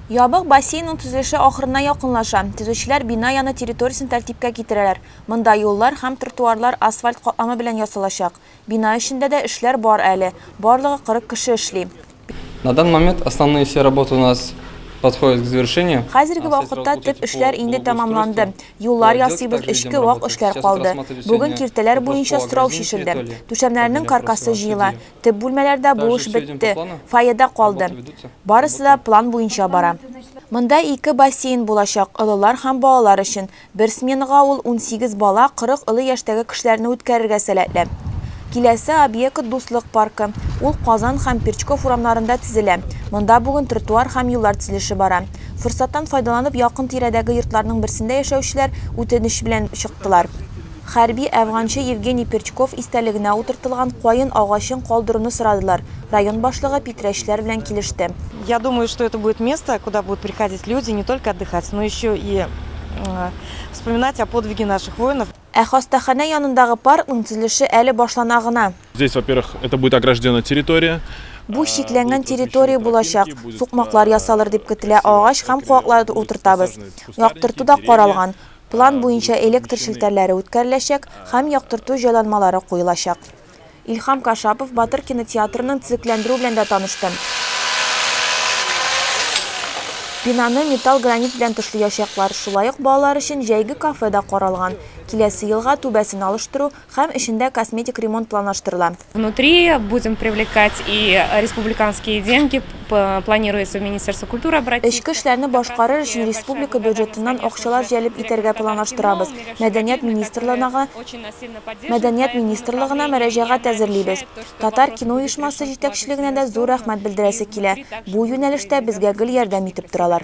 Ябык бассейнның төзелеше ахырына якынлаша. Төзүчеләр бина яны территориясен тәртипкә китерәләр. Монда юллар һәм тротуарлар асфальт катламы белән ясалачак. Бина эчендә дә эшләр бар әле, барлыгы 40 кеше эшли. На данный момент основные все работы у нас подходят к завершению. Хәзерге вакытта төп эшләр инде тәмамланды. Юллар ясыйбыз, эчке вак эшләр калды. Бүген киртәләр буенча сорау чишелде. Түшәмнәрнең каркасы җыела. Төп бүлмәләрдә бу эш бетте, фойеда калды. Барысы да план буенча бара. Монда ике бассейн булачак, олылар һәм балалар өчен. Бер сменага ул унсигез бала, кырык олы яшьтәге кешеләрне үткәрергә сәләтле. Киләсе объект, Дуслык паркы. Ул Казан һәм Перчков урамнарында төзелә. Монда бүген тротуар һәм юллар төзелеше бара. Форсаттан файдаланып, якын-тирәдәге йортларның берсендә яшәүчеләр үтенеч белән чыктылар. Хәрби әфганчы Евгений Перчков истәлегенә утыртылган каен агачын калдыруны сорадылар, район башлыгы питрәчләр белән килеште. Я думаю, что это будет место, куда будут приходить люди не только отдыхать, но еще и вспоминать о подвиге наших воинов. Ә хастаханә янындагы паркның төзелеше әле башлана гына. Здесь, во-первых, это будет огражденная территория. Бу чикләнгән территория булачак, сукмаклар ясалыр дип көтелә, агач һәм куаклар утыртабыз. Яктырту да каралган. План буенча электр челтәрләре үткәреләчәк һәм яктырту җайланмалары куелачак. Илһам Кашапов Батыр кинотеатрының төзекләндерү белән дә танышты. Бинаны металл гранит белән тышлыячаклар. Шулай ук балалар өчен җәйге кафе да каралган. Киләсе елга түбәсен алыштыру, Һәм эчендә косметик ремонт планлаштырыла. Внутри будем привлекать и республиканские деньги, планируется в Министерство культуры обратиться. Эчке эшләрне башкарыр өчен республика бюджетыннан акчалар җәлеп итәргә планлаштырабыз, мәдәният министрлыгына Мәдәният министрлыгына мөрәҗәгать әзерлибез. Татар кино оешмасы җитәкчелегенә дә зур рәхмәт белдерәсе килә, бу юнәлештә безгә гел ярдәм итеп торалар.